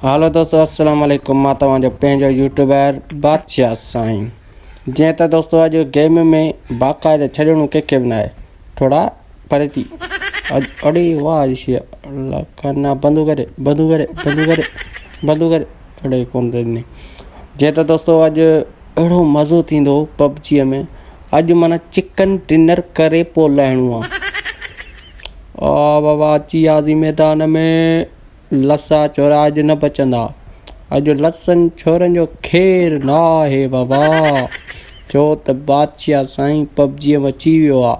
هالو دوستو السلام عليڪم مان توهان جو پنهنجو يوٽيوبر بادشاهه سائين جيئن ته دوستو اڄ گيم ۾ باقاعده ڇڏڻو ڪنهن کي به ناهي ٿورا پري ٿي اڙي واهه جي شي الله ڪنا بندو ڪري بندو ڪري بندو ڪري بندو ڪري اڙي ڪون ڏني جيئن ته دوستو اڄ اهڙو مزو ٿيندو پبجي ۾ اڄ مانا چڪن ڊنر ڪري پو لهڻو آ آ بابا اچي آزي ميدان ۾ لسا چورا اڄ نه بچندا. اڄ لسن ڇورن جو خير نه آهي بابا. ڇو ته بادشاهه سائين پبجيء م اچي ويو آ.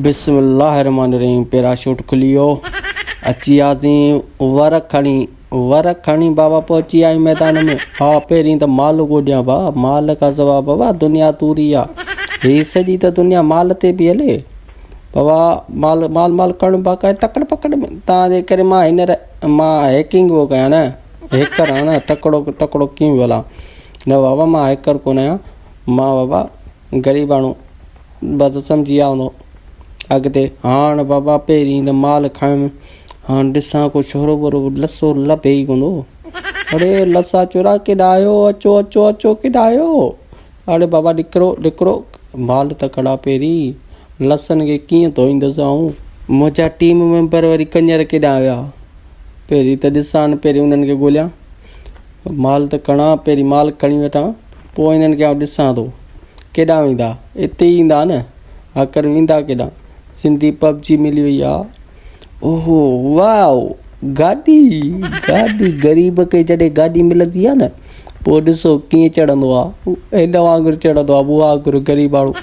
بسم الله الرحمٰن الرحيم پيراشوٽ کلي ويو اچي وياسين ور کڻي ور کڻي بابا پهچي ويا آهيون ميدان ۾ ها پهرين ته مال ڳوڏيان ڀاء مال کان سوا بابا دنيا توري آ هي سڄي ته دنيا مال تي پي هلي. بابا مال مال مال ڪرڻ باقاع تڪڙ پڪڙ ۾ تان جي ڪري مان هينئر مان هيڪنگ هو ڪيان نه هيڪر آهيان نه تڪڙو تڪڙو ڪيم ولا نه بابا مان هيڪر ڪونه آهيان مان بابا غريب ماڻهو بس سمجهي ويا هوندو اڳتي هاڻ بابا پهرين نه مال کڻ هاڻ ڏسان ڪو شورو وورو لسو لڀي ئي ڪوندو اڙي لسا چورا ڪيڏا آهيو اچو اچو اچو ڪيڏا آهيو اڙي بابا ڏڪرو ڏڪرو مال ته ڪڙا پيري لسن کي ڪيئن ڌوئيندس آئون. منهنجا ٽيم ميمبر وري ڪڃر ڪيڏانهن ويا پهرين ته ڏسان پهرين انهن کي ڳوليان مال ته کڻان پهرين مال کڻي وٺان پوء انهن کي آئون ڏسان ٿو ڪيڏانهن ويندا اتي ئي ايندا نه آخر ويندا ڪيڏانهن سنڌي پبجي ملي وئي آ اوهو واء گاڏي گاڏي غريب کي جڏهن گاڏي ملندي آهي نه پوء ڏسو ڪيئن چڙهندو آهي هن وانگر چڙهندو آهي مون وانگر غريباڻو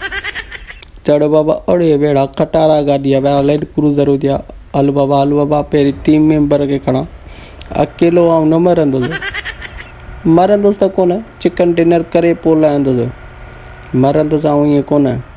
چڙهه بابا اڙي ويڙا کٽارا گاڏي آهي ويڙا لينڊ ڪروزر هجي ها هل بابا هل بابا پهرين ٽيم ميمبر کي کڻان اڪيلو آئون نه مرندس مرندس ته ڪونه چڪن ڊنر ڪري پوء لهندس مرندس آئون ائين ڪونه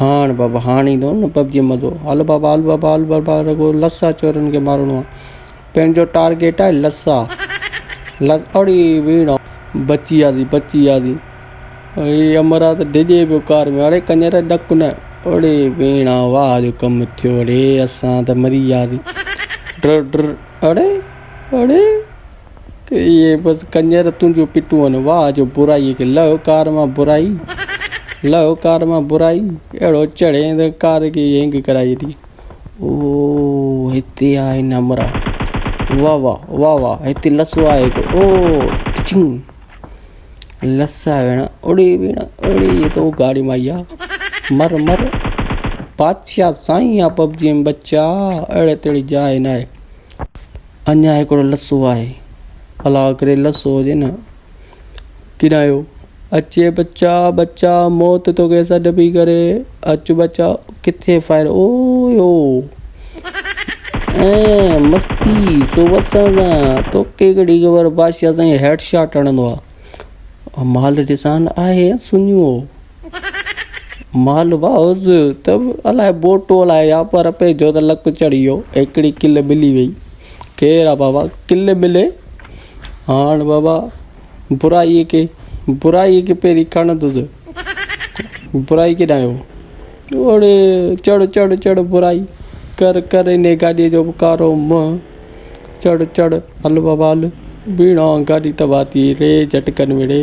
هاڻ بابا هاڻ ايندو نه پبجي مزو هل بابا هل بابا هل بابا رڳو لس آ چورن کي مارڻو آ پنهنجو ٽارگيٽ آهي لس آ لس اڙي ويڙا بچي وياسي بچي وياسي اڙي امر آ ته ڊڄي پيو ڪار ۾ اڙي ڪڃر ڊڪ نه اڙي ويڙا واهه جو ڪم ٿيو اڙي اسان ته مري وياسي ڊر ڊر اڙي اڙي ته اهي بس ڪڃر تنهنجون پٽون واهه جو برائي کي لهو ڪار مان برائي لهو ڪار مان برائي اهڙو چڙهين ته ڪار کي هينگ ڪرائي ڇڏي او هتي آهي نمرا واهه واهه واهه واهه هتي لسو آهي هڪڙو او ٽچنگ لسا ويڻ اڙي ويڻ اڙي تو گاڙي مان ايا مر مر بادشاهه سائين آ پبجي ۾ بچا اهڙي تهڙي جاء ناهي اڃا هڪڙو لسو آهي. الا ڪري لسو هجي نه. ڪرايو اچي بچا بچا موت تو کي سڏ پي ڪري اچ بچا ڪٿي فائر او يو اي مستي سو وسان دا تو کي گڙي خبر بادشاہ سائين هيڊ شاٽ هڻندو آ مال ڏسان آهي سنيو مال باهوز ته الاء بوٽ الاء يا پر پئي جو ته لڪ چڙهي ويو هڪڙي ڪل ملي وئي خير آ بابا ڪل ملي هاڻ بابا برائي کي برائي کي پهرين کڻ ته سهي برائي کي ڏايو اوڙي چڙ چڙ چڙ برائي ڪر ڪر ان گاڏي جو به ڪارو منهن چڙ چڙ هل بابا هل بيڻا گاڏي تباهه ٿي ري جهٽڪن وڙي